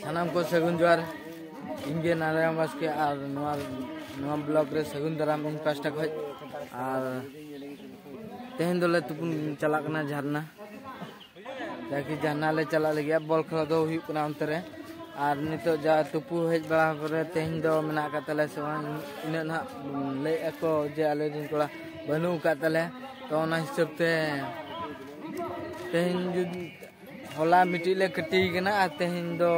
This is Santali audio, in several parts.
ᱥᱟᱱᱟᱢ ᱠᱚ ᱥᱟᱹᱜᱩᱱ ᱡᱚᱦᱟᱨ ᱤᱧ ᱜᱮ ᱱᱟᱨᱟᱭᱚᱱ ᱵᱟᱥᱠᱮ ᱟᱨ ᱱᱚᱣᱟ ᱱᱚᱣᱟ ᱵᱞᱚᱜ ᱨᱮ ᱥᱟᱹᱜᱩᱱ ᱫᱟᱨᱟᱢ ᱤᱧ ᱯᱟᱥᱴᱟ ᱠᱷᱚᱡ ᱟᱨ ᱛᱮᱦᱮᱧ ᱫᱚᱞᱮ ᱛᱩᱯᱩᱱ ᱪᱟᱞᱟᱜ ᱠᱟᱱᱟ ᱡᱷᱟᱨᱱᱟ ᱡᱟᱠᱤ ᱡᱷᱟᱨᱱᱟ ᱞᱮ ᱪᱟᱞᱟᱜ ᱞᱟᱹᱜᱤᱫ ᱵᱚᱞ ᱠᱷᱮᱞ ᱫᱚ ᱦᱩᱭᱩᱜ ᱠᱟᱱᱟ ᱚᱱᱛᱮ ᱨᱮ ᱟᱨ ᱱᱤᱛᱚᱜ ᱡᱟ ᱛᱩᱯᱩ ᱦᱮᱡ ᱵᱟᱲᱟ ᱯᱚᱨᱮ ᱛᱮᱦᱮᱧ ᱫᱚ ᱢᱮᱱᱟᱜ ᱟᱠᱟᱫ ᱛᱟᱞᱮ ᱥᱮ ᱵᱟᱝ ᱤᱱᱟᱹᱜ ᱱᱟᱦᱟᱜ ᱞᱟᱹᱭ ᱟᱠᱚ ᱡᱮ ᱟᱞᱮ ᱨᱮᱱ ᱠᱚᱲᱟ ᱵᱟᱹᱱᱩᱜ ᱟᱠᱟᱫ ᱛᱟᱞᱮ ᱛᱚ ᱚᱱᱟ ᱦᱤᱥᱟᱹᱵ ᱛᱮ ᱛᱮᱦᱮᱧ ᱡᱩᱫᱤ ᱦᱚᱞᱟ ᱢᱤᱫᱴᱤᱡ ᱞᱮ ᱠᱟᱹᱴᱤ ᱠᱟᱱᱟ ᱟᱨ ᱛᱮᱦᱮᱧ ᱫᱚ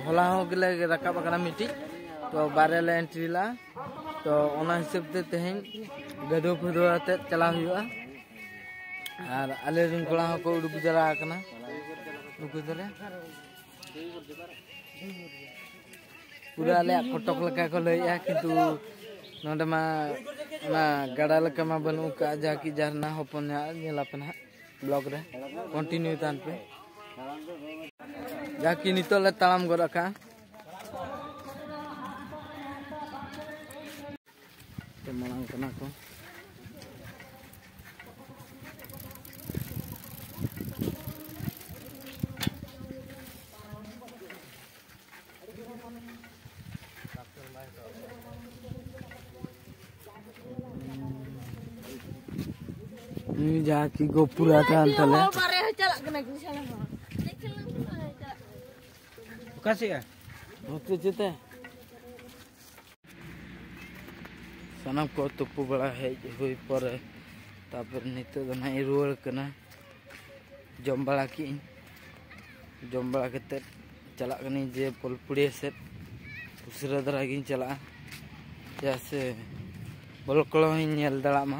ᱦᱚᱞᱟ ᱦᱚᱸ ᱜᱮᱞᱮ ᱨᱟᱠᱟᱵ ᱟᱠᱟᱱᱟ ᱢᱤᱫᱴᱤᱡ ᱛᱚ ᱵᱟᱨᱭᱟ ᱞᱮ ᱮᱱᱴᱨᱤ ᱞᱟᱜᱼᱟ ᱛᱚ ᱚᱱᱟ ᱦᱤᱥᱟᱹᱵ ᱛᱮ ᱛᱮᱦᱮᱧ ᱜᱟᱹᱫᱷᱟᱹᱣ ᱯᱷᱟᱹᱫᱟᱹᱣ ᱟᱛᱮᱫ ᱪᱟᱞᱟᱣ ᱦᱩᱭᱩᱜᱼᱟ ᱟᱨ ᱟᱞᱮ ᱨᱮᱱ ᱠᱚᱲᱟ ᱦᱚᱸᱠᱚ ᱩᱰᱩᱠ ᱡᱟᱣᱨᱟ ᱟᱠᱟᱱᱟ ᱩᱰᱩᱠ ᱫᱟᱞᱮ ᱯᱩᱨᱟᱹ ᱟᱞᱮᱭᱟᱜ ᱠᱚᱴᱚᱠ ᱞᱮᱠᱟ ᱠᱚ ᱞᱟᱹᱭᱮᱜᱼᱟ ᱠᱤᱱᱛᱩ ᱱᱚᱰᱮ ᱢᱟ ᱚᱱᱟ ᱜᱟᱰᱟ ᱞᱮᱠᱟ ᱢᱟ ᱵᱟᱹᱱᱩᱜ ᱟᱠᱟᱫᱼᱟ ᱡᱟᱦᱟᱸ ᱠᱤ ᱡᱷᱟᱨᱱᱟ ᱦᱚᱯᱚᱱ ᱧᱚᱜ ᱧᱮᱞᱟᱯᱮ ᱱᱟᱦᱟᱜ ᱵᱞᱚᱜ ᱨᱮ ᱠᱚᱱᱴᱤᱱᱤᱭᱩ ᱛᱟᱦᱮᱱ ᱯᱮ ᱡᱟᱦᱟᱸ ᱠᱤ ᱱᱤᱛᱚᱜ ᱞᱮ ᱛᱟᱲᱟᱢ ᱜᱚᱫ ᱟᱠᱟᱜᱼᱟ ᱢᱟᱲᱟᱝ ᱠᱟᱱᱟ ᱠᱚ ᱱᱩᱭ ᱡᱟᱦᱟᱸ ᱠᱤ ᱜᱚᱯᱩᱨᱟ ᱠᱟᱱ ᱛᱟᱞᱮ ᱚᱠᱟ ᱥᱮᱫ ᱱᱚᱛᱮ ᱪᱮᱛᱮ ᱥᱟᱱᱟᱢ ᱠᱚ ᱛᱩᱯᱩ ᱵᱟᱲᱟ ᱦᱮᱡ ᱦᱩᱭ ᱯᱚᱨᱮ ᱛᱟᱯᱚᱨ ᱱᱤᱛᱚᱜ ᱫᱚ ᱱᱟᱦᱟᱜ ᱤᱧ ᱨᱩᱣᱟᱹᱲ ᱠᱟᱱᱟ ᱡᱚᱢ ᱵᱟᱲᱟ ᱠᱮᱜ ᱤᱧ ᱡᱚᱢ ᱵᱟᱲᱟ ᱠᱟᱛᱮᱫ ᱪᱟᱞᱟᱜ ᱠᱟᱹᱱᱟᱹᱧ ᱡᱮ ᱯᱚᱞᱯᱩᱲᱤᱭᱟᱹ ᱥᱮᱫ ᱩᱥᱟᱹᱨᱟ ᱫᱷᱟᱨᱟ ᱜᱤᱧ ᱪᱟᱞᱟᱜᱼᱟ ᱪᱮᱫᱟᱜ ᱥᱮ ᱵᱚᱞ ᱠᱚᱦᱚᱧ ᱧᱮᱞ ᱫᱟᱲᱮᱭᱟᱜ ᱢᱟ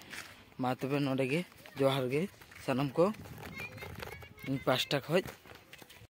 ᱢᱟ ᱛᱚᱵᱮ ᱱᱚᱰᱮ ᱜᱮ ᱡᱚᱦᱟᱨ ᱜᱮ ᱥᱟᱱᱟᱢ ᱠᱚ ᱤᱧ ᱯᱟᱥᱴᱟ ᱠᱷᱚᱡ